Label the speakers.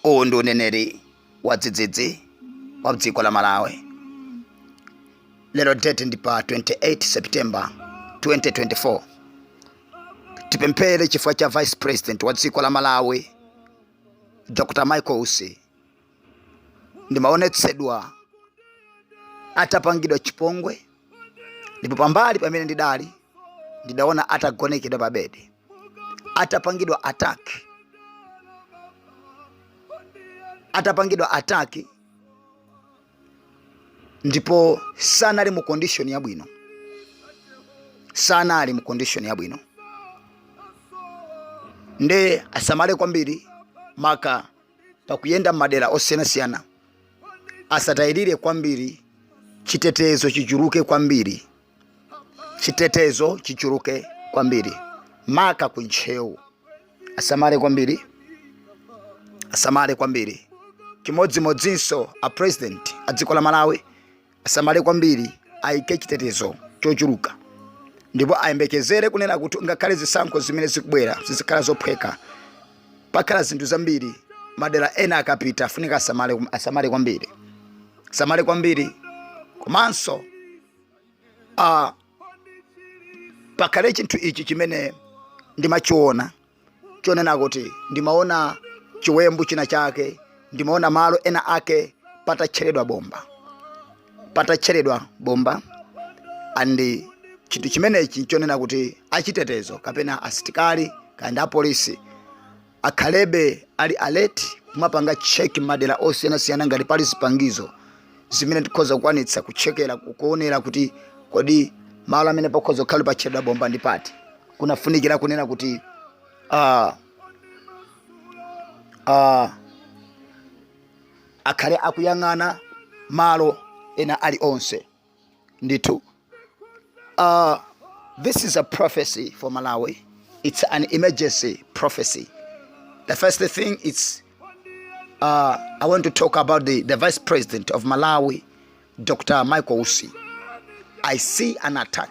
Speaker 1: uwu ndi uneneri wadzidzidzi wa dziko la malawi lero date ndi pa 28 september 2024 tipemphere chifukwa cha vice president wa dziko la malawi dr michael usi ndimaonetsedwa atapangidwa chipongwe ndipo pambali pamene ndidali ndidaona atagonekedwa pa bedi atapangidwa attack atapangidwa attack ndipo sanali mu condition yabwino sanali mu condition yabwino nde asamale kwambiri maka pakuyenda m'madera osiyanasiyana asatayirire kwambiri chitetezo chichuluke kwambiri chitetezo chichuluke kwambiri maka ku ntcheu asamale kwambiri asamale kwambiri chimodzimodzinso a president a dziko la malawi asamale kwambiri ayike chitetezo chochuluka ndipo ayembekezere kunena kuti ngakhale zisankho zimene zikubwera sizikhala zophweka pakhala zinthu zambiri madera ena akapita afunika asamale kwambiri asamale kwambiri komanso uh, pakhale chinthu ichi chimene ndimachiona chonena kuti ndimaona chiwembu china chake ndimaona malo ena ake patatcheredwa bomba patatcheredwa bomba and chinthu chimenechi chonena kuti achitetezo kapena asitikali kaya ndi apolisi akhalebe ali alert kumapanga check m'madera osiyanasiyana ngati pali zipangizo zimene tikhoza kukwanitsa kutchekera kuonera kuti kodi malo amene pakhoza kukhala patcheredwa bomba ndi pati kunafunikira kunena kuti ah, ah, akhale akuyang'ana malo ena ali onse ndithu uh, this is a prophecy for malawi it's an emergency prophecy the first thing it's uh, i want to talk about the, the vice president of malawi dr michael usi i see an attack